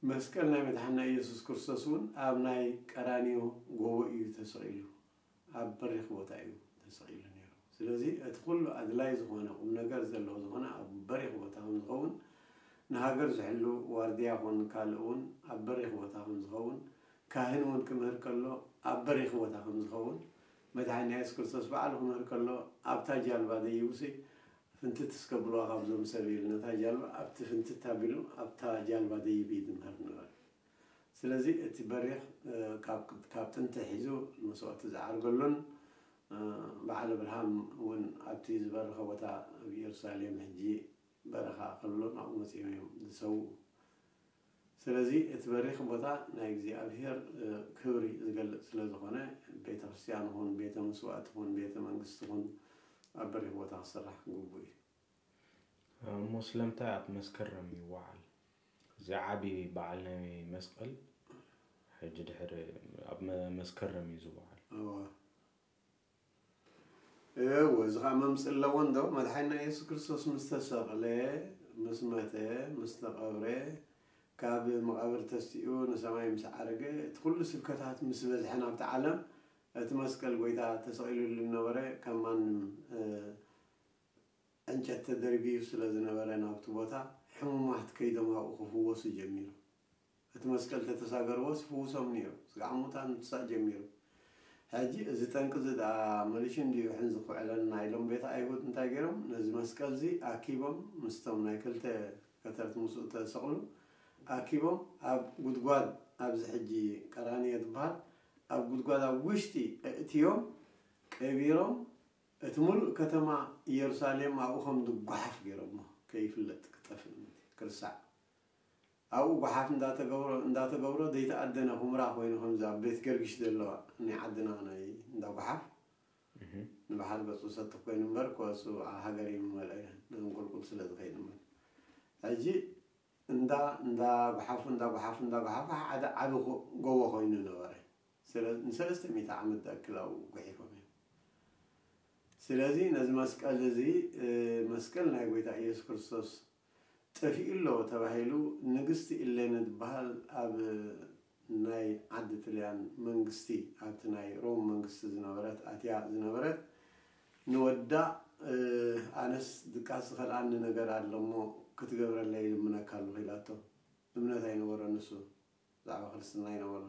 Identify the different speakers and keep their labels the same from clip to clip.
Speaker 1: መስቀል ናይ መድሓኒና ኢየሱስ ክርስቶስ እውን ኣብ ናይ ቀራንዮ ጎቦ እዩ ተሰቒሉ። ኣብ በሪኽ ቦታ እዩ ተሰቒሉ ነይሩ። ስለዚ እቲ ኩሉ ኣድላይ ዝኾነ ቁምነገር ዘለዎ ዝኾነ ኣብ በሪኽ ቦታ ከም ዝኸውን ንሃገር ዝሕሉ ዋርድያ ኮን ካልእ እውን ኣብ በሪኽ ቦታ ከም ዝኸውን ካህን እውን ክምህር ከሎ ኣብ በሪኽ ቦታ ከም ዝኸውን መድሓኒና ኢየሱስ ክርስቶስ ባዕሉ ክምህር ከሎ ኣብታ ጃልባ ደይቡሲ ፍንትት እስከ ብልዋ ካብዞም ሰብ ኢሉ ነታ ጃልባ ኣብቲ ፍንትት ኣቢሉ ኣብታ ጃልባ ደይብ ኢዩ ዝምህር ዝነበረ ስለዚ እቲ በሪኽ ካብ ጥንቲ ኣትሒዙ መስዋእቲ ዝዓርገሉን በዓል ኣብርሃም ውን ኣብቲ ዝበረኸ ቦታ ኣብ ኢየሩሳሌም ሕጂ በረኻ ከሎ ናብኡ መጺኦም ኢዮም ዝሰውኡ ስለዚ እቲ በሪኽ ቦታ ናይ እግዚኣብሄር ክብሪ ዝገልጽ ስለ ዝኾነ ቤተ ክርስትያን ይኹን ቤተ መስዋእቲ ይኹን ቤተ መንግስቲ ይኹን ኣብ በሪኽ ቦታ ክስራሕ ግቡእ እዩ። እሞ
Speaker 2: ስለምንታይ ኣብ መስከረም ይወዓል? እዚ ዓቢ በዓል ናይ መስቀል ሕጂ ድሕሪ ኣብ መስከረም እዩ ዝወዓል። እወ
Speaker 1: እወ እዚ ኸኣ መምጽኢ ኣለዎ እንዶ መድሓኒና የሱስ ክርስቶስ ምስ ተሰቕለ ምስ መተ ምስ ተቐብረ ካብ መቓብር ተስኡ ንሰማይ ምስ ዓረገ እቲ ኩሉ ስብከታት ምስ በዝሐ ናብቲ ዓለም እቲ መስቀል ጎይታ ተሰቒልሉ ዝነበረ ከም ማንም ዕንጨት ተደርብዩ ስለ ዝነበረ ናብቲ ቦታ ሕሙማት ከይዶም ኣብኡ ክፍወሱ ጀሚሩ እቲ መስቀል ተተሳገርዎስ ይፍውሶም ኔሩ ስጋዕ ሙታን ምትሳእ ጀሚሩ ሕጂ እዚ ጠንቂ እዚ ድኣ መሊሹ እንድዩ ሕንዚ ክውዕለና ኢሎም ቤት ኣይሁድ እንታይ ጌሮም ነዚ መስቀል እዚ ኣኪቦም ምስቶም ናይ ክልተ ከተርት ምስኡ ተሰቅሉ ኣኪቦም ኣብ ጉድጓድ ኣብዚ ሕጂ ቀራንዮ ዝብሃል ኣብ ጉድጓድ ኣብ ውሽጢ ኣእትዮም ቀቢሮም እቲ ሙሉእ ከተማ ኢየሩሳሌም ኣብኡ ከም ዝጓሓፍ ጌሮሞ ከይፍለጥ ክጠፍእ ምእንቲ ክርሳዕ ኣብኡ ጓሓፍ እንዳተገብሮ እንዳተገብሮ ዘይተኣደነ ኩምራ ኮይኑ ከምዚ ኣብ ቤት ገርግሽ ዘለዋ ናይ ዓድና ናይ እንዳ ጓሓፍ ንባሓር ገጹ ሰቲ ኮይኑ እምበር ኮሱ ኣብ ሃገር ይምመልኦ እየ ነዞም ቁልቁል ስለ ዝኸይድ እምበር ሕጂ እንዳ እንዳ ጓሓፉ እንዳ ጓሓፉ እንዳ ጓሓፉ ሓደ ዓቢ ጎቦ ኮይኑ ነበረ ስለ ንሰለስተ ሚእቲ ዓመት ዝኣክል ኣብኡ ጉሒፎም እዮም ስለዚ ነዚ መስቀል እዚ መስቀል ናይ ጎይታ ኢየሱስ ክርስቶስ ጠፊኡሎ ተባሂሉ ንግስቲ ኢሌነ ትበሃል ኣብ ናይ ዓዲ ጥልያን መንግስቲ ኣብቲ ናይ ሮም መንግስቲ ዝነበረት ኣትያ ዝነበረት ንወዳ ኣነስ ድቃስ ዝኸልኣኒ ነገር ኣሎሞ ክትገብረለይ ይልምነካ ኣሎኹ ኢላቶ እምነት ኣይነበሮን ንሱ ብዛዕባ ክርስትና ኣይነበሮን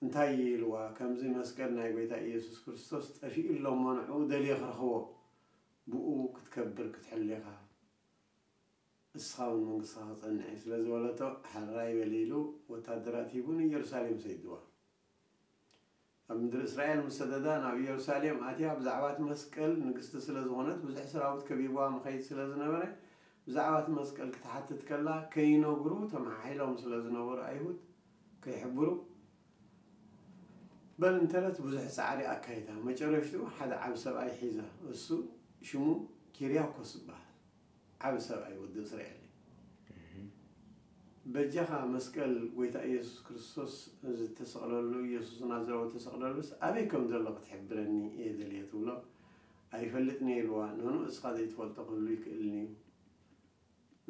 Speaker 1: እንታይ ኢልዋ ከምዚ መስቀል ናይ ጎይታ ኢየሱስ ክርስቶስ ጠፊኡሎሞ ንዕኡ ደልየ ክረኽቦ ብእኡ ክትከብር ክትሕሊ ኢኻ፣ ንስኻ ውን መንግስትኻ ክጸንዕ እዩ ስለ ዝበለቶ፣ ሐራይ በሊ ኢሉ ወታደራት ሂቡ ንኢየሩሳሌም ሰይድዋ። ኣብ ምድሪ እስራኤል ምስ ሰደዳ ናብ ኢየሩሳሌም ኣትያ ብዛዕባ እቲ መስቀል ንግስቲ ስለ ዝኾነት ብዙሕ ሰራዊት ከቢብዋ መኸይድ ስለ ዝነበረ ብዛዕባ እቲ መስቀል ክትሓትት ከላ ከይነግሩ ተመሓሒሎም ስለ ዝነበሩ ኣይሁድ ከይሕብሩ በል እንተለት ብዙሕ ጻዕሪ ኣካይዳ መጨረሽትኡ ሓደ ዓቢ ሰብኣይ ሒዛ እሱ ሽሙ ኪርያኮስ ዝብሃል ዓቢ ሰብኣይ ወዲ እስራኤል እዩ በጃኻ መስቀል ጎይታ ኢየሱስ ክርስቶስ ዝተሰቕለሉ ኢየሱስ ናዝራዊ ዝተሰቕለሉስ ኣበይ ከም ዘሎ ክትሕብረኒ እየ ደልየ ትብሎ ኣይፈልጥን እየ ኢልዋ ንኑ እስኻ ዘይትፈልጦ ክህሉ ይክእልን እዩ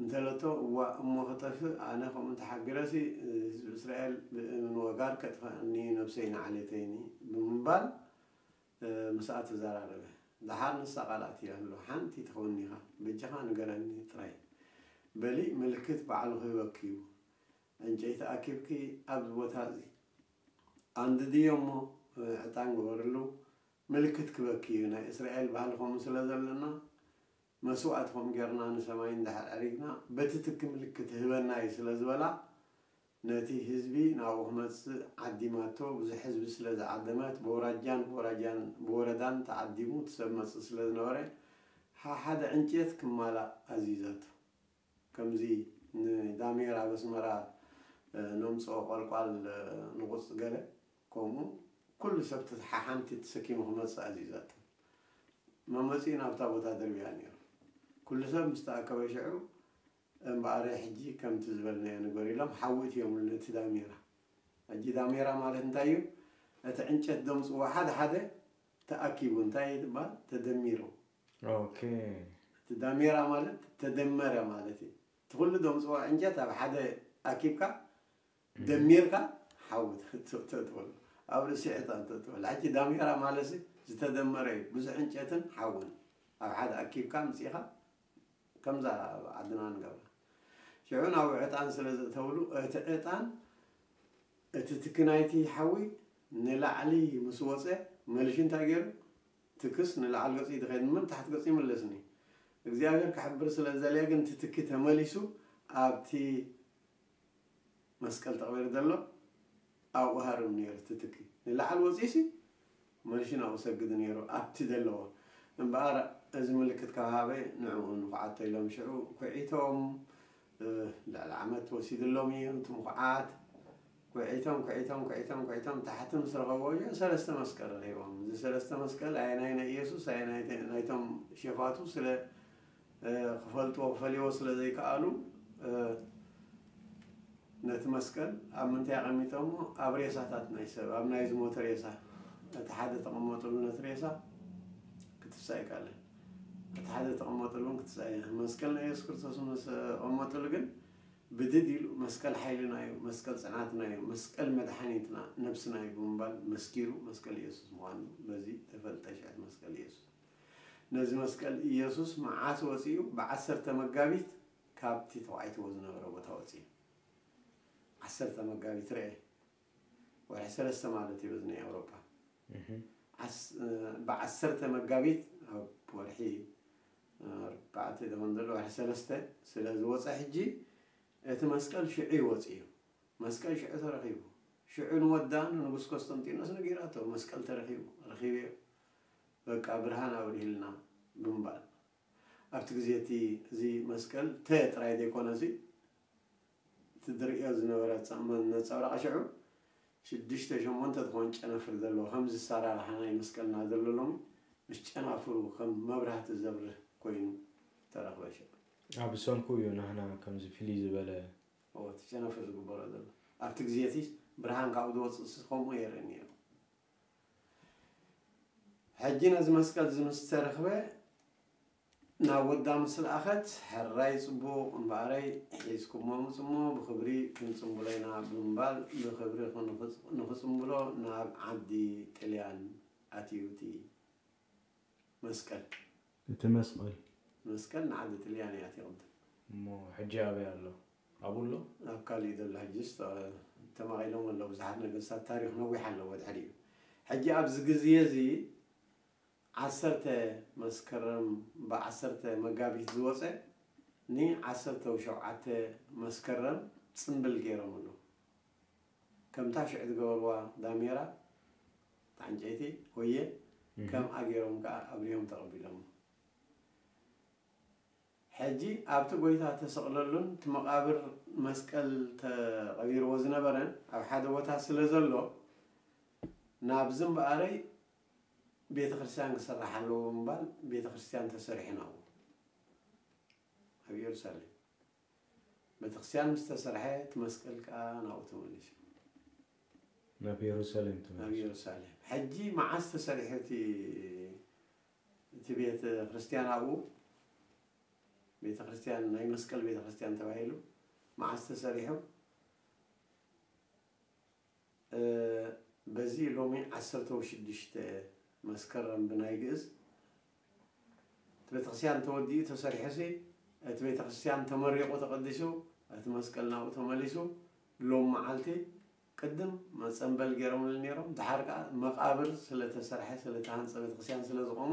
Speaker 1: እንተለቶ ዋእ እሞ ክጠፍእ ኣነ ከምኡ ተሓጊረሲ ህዝቢ እስራኤል ብእምን ወጋር ከጥፈኣኒ እዩ ነብሰይ ንዓሌተይኒ ብምባል ምስኣ ተዘራረበ ደሓር ንሳ ቃል ኣትያትሉ ሓንቲ ተኮኒካ በጃካ ንገረኒ ጥራይ በሊ ምልክት ባዕሉ ክህበኪ እዩ ዕንጨይቲ ኣኪብኪ ኣብዚ ቦታ እዚ ኣንድድዮ እሞ ዕጣን ግበርሉ ምልክት ክበኪ እዩ ናይ እስራኤል ባህሊ ከምኡ ስለ ዘለና መስዋእቲ ከም ገርና ንሰማይ እንድሕር ዐሪግና በቲ ትኪ ምልክት ህበና እዩ ስለ ዝበላ ነቲ ህዝቢ ናብኡ ክመጽእ ዓዲማቶ ብዙሕ ህዝቢ ስለ ዝዓደመት በውራጃን በውራጃን ብወረዳን ተዓዲሙ እቲ ሰብ መጽእ ስለ ዝነበረ ሓሓደ ዕንጭየት ክማላእ ኣዚዛቶ ከምዚ ንዳሜር ኣብ ኣስመራ ነምጽኦ ቋልቋል ንቑጽ ገለ ከምኡ ኩሉ ሰብ እቲ ሓሓንቲ ተሰኪሙ ክመጽእ ኣዚዛቶ መመጺኡ ናብታ ቦታ ደርብያ ኔሩ ኩሉ ሰብ ምስ ተኣከበ ሽዑ እምበኣረይ ሕጂ ከምቲ ዝበልናዮ ንግበር ኢሎም ሓዊ እትዮምሉ ነቲ ዳሜራ ሕጂ ዳሜራ ማለት እንታይ እዩ እቲ ዕንጨት ደምጽዎ ሓደ ሓደ ተኣኪቡ እንታይ ይባሃል ተደሚሩ ኦኬ። እቲ ዳሜራ ማለት ተደመረ
Speaker 2: ማለት
Speaker 1: እዩ። እቲ ኩሉ ደምጽዎ ዕንጨት ኣብ ሓደ ኣኪብካ ደሚርካ ሓዊ ተእትወሉ። ኣብ ርእሲ ዕጣን ተእትወሉ። ሕጂ ዳሜራ ማለትሲ ዝተደመረ እዩ። ብዙሕ ዕንጨትን ሓውን ኣብ ሓደ ኣኪብካ ኣምጺእኻ ከምዛ ኣብ ዓድና ንገብራ። ሽዑ ናብኡ ዕጣን ስለ ዘእተውሉ እቲ ዕጣን እቲ ትኪ ናይቲ ሓዊ ንላዕሊ ምስ ወጸ መልሹ እንታይ ገይሩ ትክስ ንላዕል ገጹ ይትከድ እምበር ንታሕቲ ገጹ ይምለስኒ እግዚኣብሔር ክሕብር ስለ ዝደለየ ግን እቲ ትኪ ተመሊሱ ኣብቲ መስቀል ተቅቢሩ ዘሎ ኣብኡ ሃርም ነይሩ እቲ ትኪ ንላዕል ወጺኡሲ መልሹ ናብኡ ሰግዱ ነይሩ ኣብቲ ዘለዎ እምበኣር እዚ ምልክት ካብ ሃበ ንዕኡ ንኩዓቶ ኢሎም ሽዑ ኩዒቶም ልዕሊ ዓመት ወሲድሎም እዩ እቲ ምኹዓት። ኩዒቶም ኩዒቶም ኩዒቶም ኩዒቶም ታሕቲ ምስ ረኸብዎ እዮ ሰለስተ መስቀል ረኺቦም። እዚ ሰለስተ መስቀል ኣየናይ ናይ ኢየሱስ ኣየናይ ናይቶም ሼፋቱ ስለ ክፈልጥዎ ክፈልይዎ ስለ ዘይከኣሉ ነቲ መስቀል ኣብ ምንታይ ኣቐሚጦሞ ኣብ ሬሳታት ናይ ሰብ ኣብ ናይ ዝሞተ ሬሳ እቲ ሓደ ተቐመጥሉ ነቲ ሬሳ ክትሳ ኣይከኣለን። እቲ ሓደ ዝተቐመጠሉ እውን ክትስኣይ ኢኻ። መስቀል ናይ የሱስ ክርስቶስ ምስ ተቐመጠሉ ግን ብድድ ኢሉ መስቀል ሓይልና እዩ፣ መስቀል ጽዕናትና እዩ፣ መስቀል መድሓኒትና ነብስና እዩ ብምባል መስኪሩ መስቀል የሱስ ምዃኑ በዚ ተፈልጠ ሽዕት መስቀል የሱስ። ነዚ መስቀል ኢየሱስ መዓስ ወጺኡ ብዓሰርተ መጋቢት ካብቲ ተዃዒትዎ ዝነበረ ቦታ ወጺኡ። ዓሰርተ መጋቢት ረኤ። ወርሒ ሰለስተ ማለት እዩ በዚ ናይ ኤውሮጳ ብ ዓሰርተ መጋቢት ኣብ ወርሒ ኣርባዕተ ደኾን ዘሎ ወርሒ ሰለስተ ስለ ዝወጸ ሕጂ እቲ መስቀል ሽዑ ይወጽእ እዩ መስቀል ሽዑ ተረኺቡ ሽዑ ንወዳ ንንጉስ ኮስተንጢኖስ ነጊራቶ መስቀል ተረኺቡ ረኺበዮ በቃ ብርሃን ኣብሪህልና ብምባል ኣብቲ ግዜ እቲ እዚ መስቀል ተ ጥራይ ዘይኮነሲ እቲ ዝርእዮ ዝነበረ ጸእማን ነጸብራቕ ሽዑ ሽዱሽተ ሸሞንተ ትኾን ጨናፍር ዘለዎ ከምዚ ኣሳራርሓ ናይ መስቀልና ዘሎ ሎሚ ምስ ጨናፍሩ ከም መብራህቲ ዘብርህ ኮይኑ ተረኽበ ሽዑ። ኣብ ሰንኩ እዩ
Speaker 2: ናህና ከምዚ ፍልይ ዝበለ። እወ እቲ ጨናፍር
Speaker 1: ዝግበሮ ዘሎ ኣብቲ ግዜ እቲ ብርሃን ካብኡ ዝወጽእሲ ከምኡ የርኢ ነይሩ። ሕጂ ነዚ መስቀል እዚ ምስ ተረኽበ። ናብ ወዳ ምስ ለኣኸት፣ ሕራይ ጽቡቕ እምበኣረይ፣ ሒዝኩሞ ምጹ'ሞ ብኽብሪ ክንጽምብሎ ኢና ብምባል ብኽብሪ ንኽጽምብሎ ናብ ዓዲ ጥልያን ኣትዩ'ቲ መስቀል።
Speaker 2: እቲ መስቐል።
Speaker 1: መስቀል ንዓዲ ጥልያን እዩ ኣትዩ ቅድም። እሞ ሕጂ
Speaker 2: ኣበይ ኣሎ? ኣብኡ ኣሎ? ኣብ ካልእ እዩ ዘሎ
Speaker 1: ሕጂስ ተማቒሎም ኣለዉ ብዙሓት ነገስታት ታሪኽ ነዊሕ ኣለዎ ድሕሪኡ። ሕጂ ኣብዚ ግዝየ'ዚ። ዓሰርተ መስከረም ብ ዓሰርተ መጋቢት ዝወጸ ን ዓሰርተው ሸውዓተ መስከረም ጽምብል ጌሮምሉ ከምታ ሽዑ ዝገበርዋ ዳሜራ ብ ዕንጨይቲ ሆየ ከምኣ ጌሮም ከኣ ኣብርሆም ተቀቢሎሞ ሕጂ ኣብቲ ጎይታ ተሰቅለሉን እቲ መቃብር መስቀል ተቀቢርዎ ዝነበረን ኣብ ሓደ ቦታ ስለ ዘሎ ናብዚ እምበኣረይ ቤተክርስትያን ክስራሕ ኣለዎ ብምባል ቤተክርስትያን ተሰሪሑን ኣሎ ኣብ እየሩሳሌም ቤተክርስትያን ምስ ተሰርሐ እቲ መስቀል ከኣ ናብኡ ተመሊሱ
Speaker 2: ናብ የሩሳሌም ናብ ተመልሱ እየሩሳሌም
Speaker 1: ሕጂ መዓስ ተሰሪሑ እቲ እቲ ቤተ ክርስትያን ኣብኡ ቤተ ክርስትያን ናይ መስቀል ቤተ ክርስትያን ተባሂሉ መዓስ ተሰሪሑ በዚ ሎሚ ዓሰርተ ወሽድሽተ መስከረም ብናይ ግእዝ እቲ ቤተክርስቲያን ተወዲኡ ተሰሪሑሲ እቲ ቤተክርስቲያን ተመሪቁ ተቀዲሱ እቲ መስቀል ናብኡ ተመሊሱ ሎሚ መዓልቲ ቅድም መፀምበል ገይሮምሉ ነይሮም ደሓር ከዓ መቃብር ስለተሰርሐ ስለተሃንፀ ቤተክርስቲያን ስለዝቆሞ